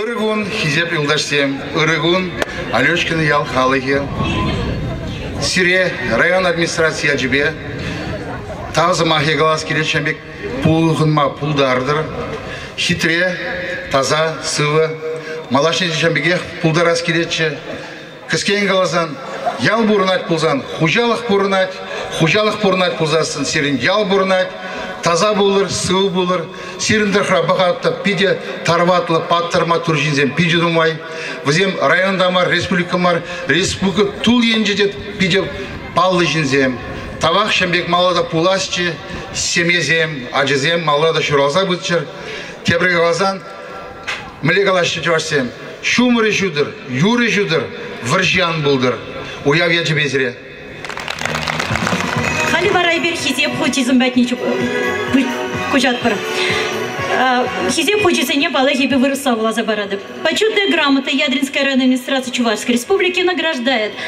Ырӑ кун, хисеп юлташсем! Ырӑ кун, Алешкина ял халӑхӗ. Сире, район администраци ячӗпе, тав сӑмахӗ калас килет ҫавӑн пек пулӑхӑнма пултартӑр. Хитре, таса, сывӑ, малашне те ҫавӑн пекех пултарас килетчӗ. Кӗскен каласан, ял пурӑнать пулсан хуҫалӑх пурӑнать, хуҫалӑх пурӑнать пулсассӑн сирӗн ял пурӑнать, таса пулӑр, сывӑ пулӑр. Сирӗн тӑрӑхра пӑхатӑп, питӗ тарватлӑ, паттӑр маттур ҫынсем питӗ нумай. Вӗсем районта мар, республика мар, республика тул енче те питӗ паллӑ ҫынсем. Тавах ҫын пек малалла та пуласчӗ, семьесем, ачасем малалла та ҫуралса пыччӑр. Тепре каласан, Мӗнле калаҫҫӗ чӑвашсем? Ҫумӑрӗ ҫутӑр, юрӗ ҫутӑр, вӑрҫи ан пултӑр. Уяв ячӗпе сире. Халӗ вара эпир Хисеп хучӗсем патне куҫатпӑр. Хисеп хучӗсене паллах эпир вырӑсла вуласа паратӑп. Почетная грамота Ядринской районной администрации Чувашской республики награждает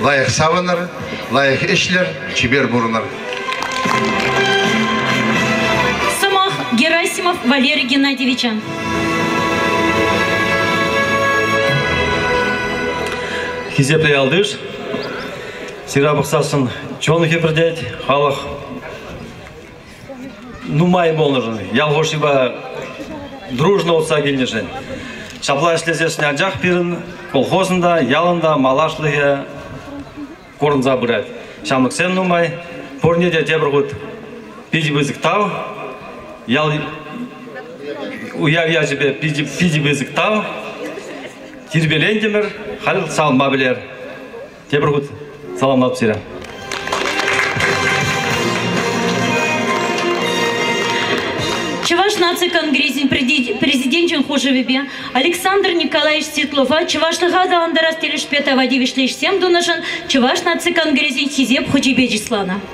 лайӑх савӑнӑр, лайӑх ӗҫлӗр, чипер пурӑнӑр. Сӑмах Герасимов Валерий Геннадьевичан. Хисеплӗ ялтыш, сира пӑхсассӑн чон хӗпӗртет халӑх. нумай пулнӑшӑн, ял хушшипе дружно утса килнӗшӗн. Ҫапла ӗҫлесессӗн анчах пирӗн колхозӑн та, ялӑн та малашлӑхӗ курӑнса пырать. Ҫамрӑксем нумай, пурне те тепӗр хут питӗ пысӑк тав. Ял уяв ячӗпе питӗ, питӗ пысӑк тав. Тирпейлентӗмӗр, халь савма пӗлер. Тепӗр хут саламлатӑп сире. Чӑваш наци конгресӗн президенчӗн хушӑвӗпе Александр Николаевич Светлова чӑвашлӑха аталантарас тӗлӗшпе тава тивӗҫлӗ ӗҫсем тунӑшӑн Чӑваш наци конгресӗн Хисеп хучӗпе чысланӑ.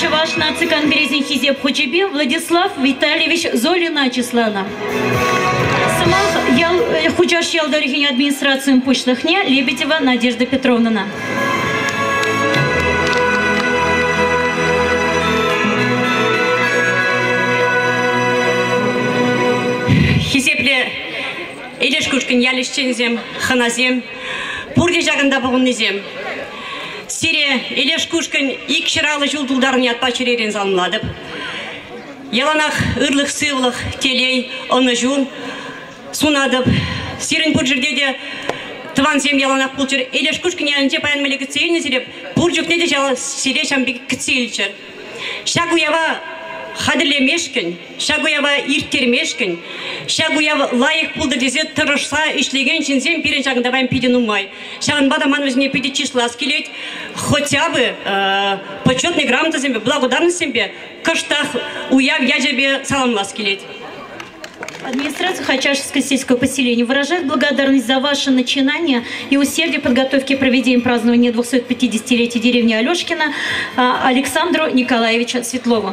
Чӑваш наци конгресӗн Хисеп хучӗпе Владислав Витальевич Золина чысланӑ. Сӑмах ял, э, Хучаш ял тӑрӑхӗн администрацийӗн пуҫлӑхне Лебедева Надежда Петровнӑна. Хисеплӗ Элешкушкин ял ӗҫченӗсем, хӑнасем, пурте ҫакӑнта пухӑннисем. Сире Элешкушкӑн ик ҫӑраллӑ ҫул тултарӑвне атпа чӗререн саламлатӑп. Яланах ырлӑх-сывлӑх, телей, ӑнӑҫу сунатӑп. Сирӗн пур ҫӗрте те тӑвансем яланах пулччӑр. Элешкушкӑн ялӗнче паян мӗнле кӗтсе илнӗ сире? Пур чухне те сире ҫам пек кӗтсе илччӗр. Ҫак уява хатӗрлемешкӗн Ҫак уява ирттермешкӗн, ҫак уяв лайӑх пултӑр тесе тӑрӑшса ӗҫлекен ҫынсем пирӗн ҫакӑнта паян питӗ нумай. Ҫавӑнпа та ман вӗсене питӗ чыслас килет. Хотя бы э, почетнӑй грамотӑсемпе, благодарностьсемпе кӑштах уяв ячӗпе саламлас килет. Администрация Хачашевского сельского поселения выражает благодарность за ваше начинание и усердие в подготовке проведения празднования 250-летия деревни Алешкина Александру Николаевича Светлову.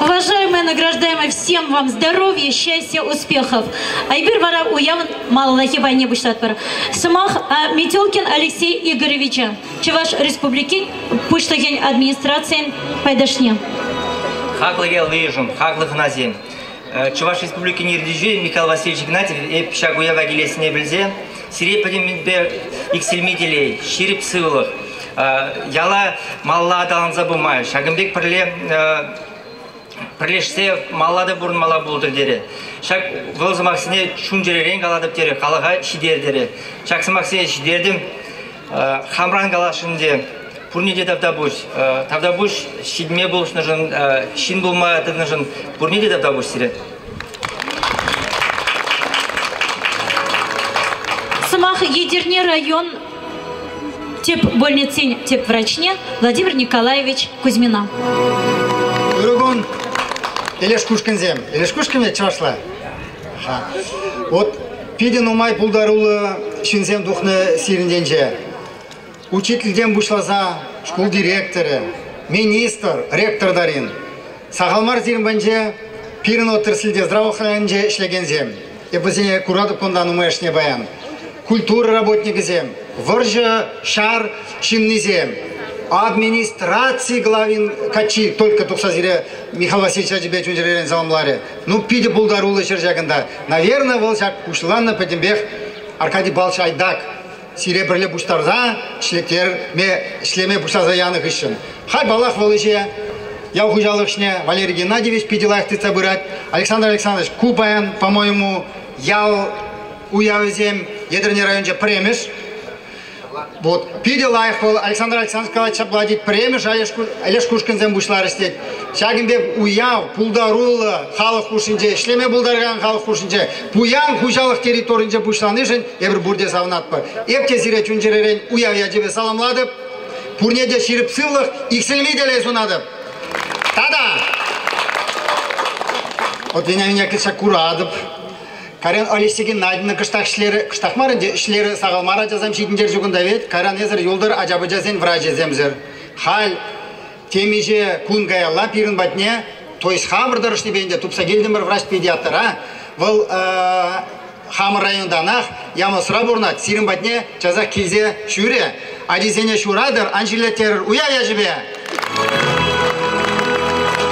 Уважаемые награждаемые, всем вам здоровья, счастья, успехов. Айбир вара уявын малаллахи байне пуҫлатпӑр. Сӑмах Метелкин Алексей Игоревича, Чӑваш Республикин Пуҫлӑхӗн администрацийӗн пайташне. Хаклӑ ялнишӗн, хаклӑ хӑнасем. Чӑваш Республикин ертӳҫи Михаил Васильевич Игнатьев эп ҫак уява килессине пӗлсе сире пӗтӗмпе иксӗлми телей, ҫирӗп сывлӑх, яла малла аталанса пыма, ҫакӑн пек пӗрле пӗрлешсе малла та пурӑнмалла пултӑр терӗ. Ҫак вӑл сӑмахсене чун-чӗререн калатӑп терӗ, халӑха ҫитер терӗ. Ҫак сӑмахсене ҫитертӗм. Хамран каласшӑн те, пурне те тавтапуҫ. Тавтапуҫ ҫитме пулӑшнӑшӑн, ҫын пулма тытнӑшӑн пурне те тавтапуҫ сире. Сӑмах Етӗрне район тӗп больницин тӗп врачне Владимир Николаевич Кузьмина. Ырубун Элешкушкинсем. Элешкушкине чӑвашла. Вот питӗ нумай пултаруллӑ ҫынсем тухнӑ сирӗн енче. Учительтен пуҫласа шкул директорӗ, министр, ректор тарин. Сахал мар сирӗнпенче пирӗн отрасльте здраво храненче ӗҫлекенсем, эп вӗсене куратӑп кунта нумайӑшне паян, культура работникӗсем, вӑрҫӑ, ҫар ҫыннисем, администраци главин каччи только тухса сире Михаил Васильевич ачипе чун-чӗререн саламларӗ. Ну, питӗ пултаруллӑ ҫӗр ҫакӑнта. Наверное, вӑл ҫак куҫланнӑ пӗтӗмпех Аркадий Павлович Айдак. сире пӗрле пуҫтарса ӗҫлеттерме, ӗҫлеме пуҫласа янӑ хыҫҫӑн. Халь, паллах, вӑл ӗҫе ял хуҫалӑхне Валерий Геннадьевич питӗ лайӑх тытса пырать. Александр Александрович, ку паян, по-моему, ял уявӗсем Етӗрне районӗнче пӗрремӗш. Вот. Питӗ лайӑх вӑл. Александр Александрович калать, ҫапла тет, пӗрремӗш Олег Кушкинсем пуҫларӗҫ тет. Ҫакӑн пек уяв пултаруллӑ халӑх хушшинче, ӗҫлеме пултаракан халӑх хушшинче, пуян хуҫалӑх территоринче пуҫланишӗн Эпир пурте савӑнатпӑр. Эп те сире чун-чӗререн уяв ячӗпе саламлатӑп. Пурне те ҫирӗп сывлӑх, иксӗлми телей сунатӑп. Тата! Вот Вениамина Алексеевича куратӑп. Кайран Олеся Геннадьевна кӑштах ӗҫлерӗ, кӑштах мар ӗнтӗ, ӗҫлерӗ, сахал мар ачасем ҫитӗнтерчӗк унта вӗт. Кайран эсӗр юлтӑр ача-пӑчасен врачӗсемсӗр. Халь темиҫе кун каялла пирӗн патне, то есть хамӑр тӑрӑшнипе ӗнтӗ тупса килтӗмӗр врач-педиатра. Вӑл хамӑр районтанах Ямӑсра пурӑнать. Сирӗн патне часах килсе ҫӳрӗ. Ачисене ҫуратӑр, ан ҫиллеттерӗр уяв ячӗпе!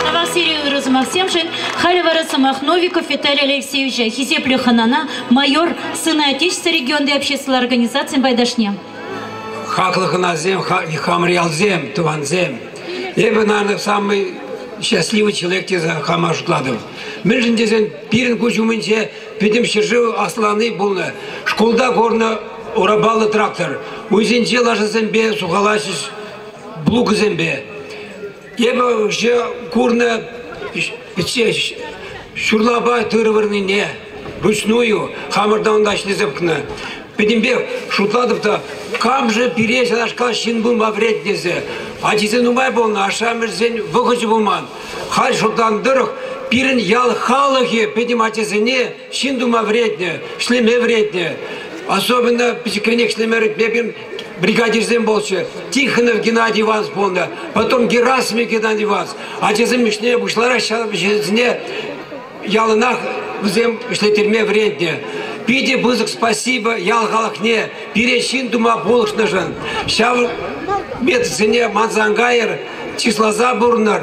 Тава сире ырӑ сӑмахсемшӗн, халӗ вара сӑмах Новиков Виталий Алексеевича, хисеплӗ хӑнана, майор, сӑн Отечество регионти общество организацийӗн пайташне. Хаклӑ хӑнасем, хамӑръялсем, тӑвансем! Эпӗ, нарӑн, самый счастливый человек тесе хама шутлатӑп. Мӗншӗн тесен пирӗн куҫ умӗнче пӗтӗм ҫӗршыв аслани пулнӑ. Шкулта курнӑ урапаллӑ трактор, уйсенче лашасемпе сухалаҫҫӗ блукӑсемпе. Эпӗ уже курнӑ ҫурлапа тырӑ вырнине, ручную хамӑртан унта ҫӗнсе пӑхнӑ. Пӗтӗмпех шутлатӑп та, камши пире ҫакашкал ҫын пулма вӗрет тесе. Ачисем нумай пулнӑ, ашшӗ-амӑшӗсен вӑхӑчӗ пулман. Халь шутланӑ тӑрӑх пирӗн ял халӑхӗ пӗтӗм ачасене Ҫын тума вӗретнӗ, ӗҫлеме вӗретнӗ. Особенно пӗчӗкренех ӗҫлеме вӗретмен бригадирсем пулчӗ. Тихонов Геннадий Иванович пулнӑ, потом Герасимов Геннадий Иванович. Ачасем ӗҫне пуҫларах ҫӗсене яланах вӗсем ӗҫлеттерме вӗрентнӗ. Питӗ пысӑк спасибо ял халӑхне пире ҫын тума пулӑшнӑшӑн. Ҫав методсене мансан кайӑр, чысласа пурӑнӑр.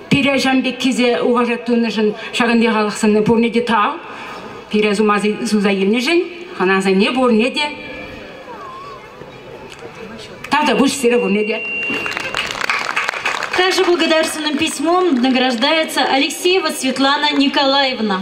Пире ҫын пеккисе уважать тунӑшӑн ҫакӑн пек халӑхсене пурне те тав. Пире сума суса илнӗшӗн хӑнасене пурне те тата пуҫ сире пурне те. Также благодарственным письмом награждается Алексеева Светлана Николаевна.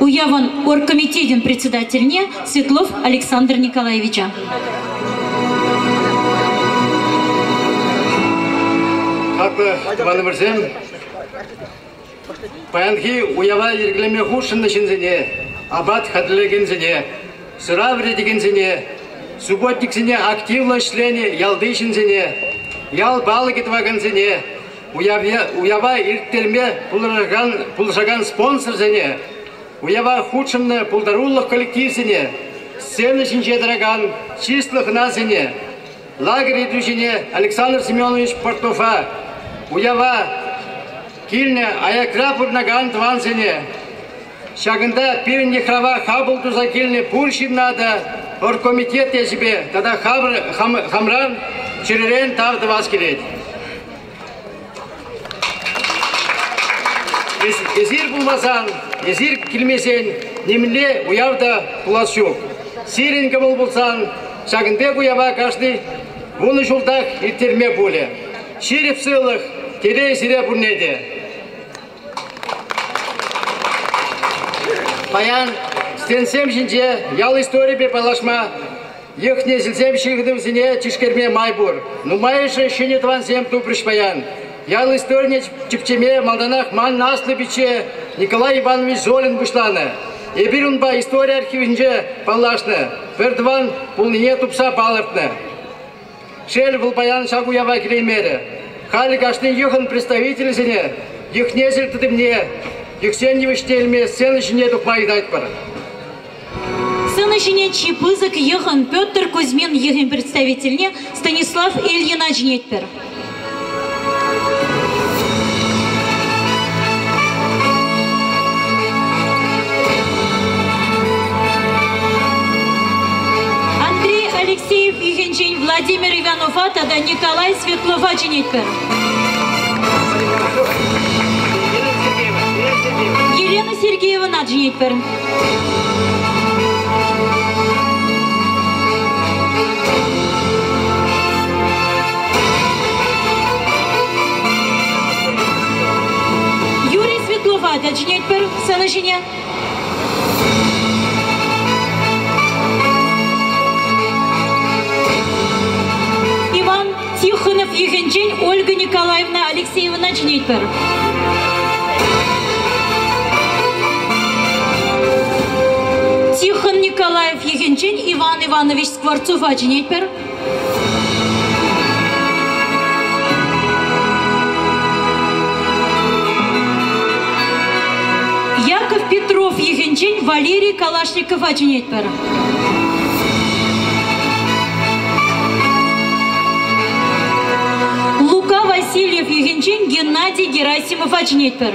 Уявӑн оргкомитечӗн председательне Светлов Александр Николаевича. Хаклӑ тӑванӑмӑрсем, паянхи уява йӗркелеме хутшӑннӑ ҫынсене, апат хатӗрлекенсене, сыра вӗретекенсене, субботниксене активлӑ ӗҫленӗ ялти ҫынсене, ял палӑкӗ тӑвакансене, уява ирттерме пулӑшакан спонсорсене, уява хутшӑннӑ пултарулӑх коллективсене, сцена ҫинче тӑракан чыслӑ хӑнасене, лагерь ертӳҫине Александр Семенович Портнова, уява килнӗ аякра пурӑнакан тӑвансене, Ҫакӑнта пирӗн йыхрава хапӑл туса килнӗ пур ҫынна та оргкомитет ячӗпе тата хамран чӗререн тав тӑвас килет. Эсир пулмасан, эсир килмесен нимӗнле уяв та пулас ҫук. Сирӗн кӑмӑл пулсан, ҫакӑн пек уява кашни вунӑ ҫултах ирттерме пулӗ. Ҫирӗп сывлӑх, телей сире пурне те. Паян стендсем ҫинче ял историйӗпе паллашма, йӑх-несӗлсем ҫыхӑнӑвӗсене тишкерме май пур. Нумайӑшӗ ҫӗнӗ тӑвансем тупрӗҫ паян. Ял историне тӗпчеме малтанах манӑн аслӑ пичче Николай Иванович Золин пуҫланӑ. Эпир унпа истори архивӗнче паллашнӑ, пӗр тӑван пулнине тупса палӑртнӑ. Шел, вӑл паян ҫак уява килеймерӗ. Халӗ кашни йӑхӑн представителӗсене йӑх-несӗл тытӑмне, йӑхсен йывӑҫне илме сцена ҫине тухма ыйтатпӑр. Сцена ҫине чи пысӑк йӑхӑн Петр Кузьмин йӑхӗн представительне Станислав Ильина чӗнетпӗр. Андрей Алексеев ӳхӗнчен Владимир Иванова тата Николай Светлова чӗнетпӗр. Елена Сергеевана чӗнетпӗр. Юрий Светлова ача чӗнетпӗр сцена ҫине. Иван Тихонов йӑхӗнчен Ольга Николаевна Алексеевна чӗнетпӗр. Тихон Николаев йӑхӗнчен Иван Иванович Скворцова чӗнетпӗр. Яков Петров йӑхӗнчен Валерий Калашникова чӗнетпӗр. Лука Васильев йӑхӗнчен Геннадий Герасимова чӗнетпӗр.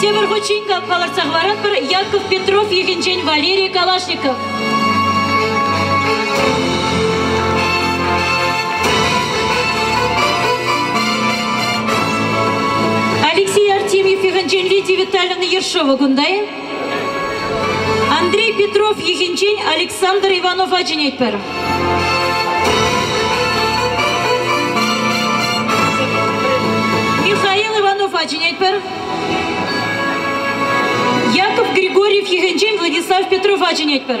Тепӗр хутченка палӑртса хӑваратпӑр Яков Петров йӑхӗнчен Валерий Калашников. Алексей Артемьев йӑхӗнчен Лидия Витальевна Ершова кунта-и? Андрей Петров йӑхӗнчен Александр Иванова чӗнетпӗр. Михаил Иванова чӗнетпӗр. Яков Григорьев йӑхӗнчен Владислав Петрова чӗнетпӗр.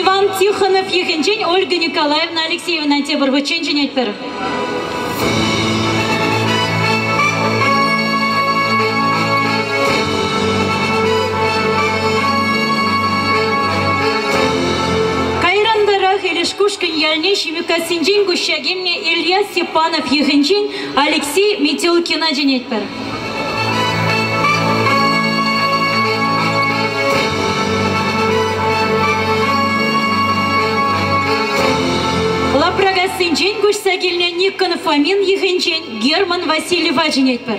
Иван Тихонов йӑхӗнчен Ольга Николаевна Алексеевна тепӗр хутчен чӗнетпӗр. Кайран-тӑрах Элешкушкин ялне ҫиме Кассинчен куҫса килнӗ Илья Степанов йӑхӗнчен Алексей Метелкина чӗнетпӗр. Лапракассинчен куҫса килнӗ Никон Фомин йӑхӗнчен Герман Васильева чӗнетпӗр.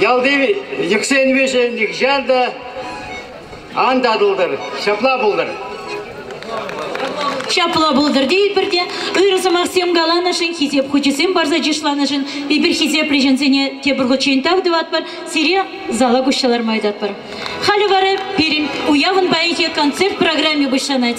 ялти йӑхсен-вӗҫӗн нихҫан та ан татӑлтӑр, ҫапла пултӑр. Ҫапла пултӑр тейӗпӗр те ырӑ сӑмахсем каланӑшӑн, хисеп хучӗсем парса чысланӑшӑн эпир хисеплӗ ҫынсене тепӗр хутчен тав тӑватпӑр, сире зала куҫса ларма ыйтатпӑр. Халӗ вара пирӗн уявӑн паянхи концерт программи пуҫланать.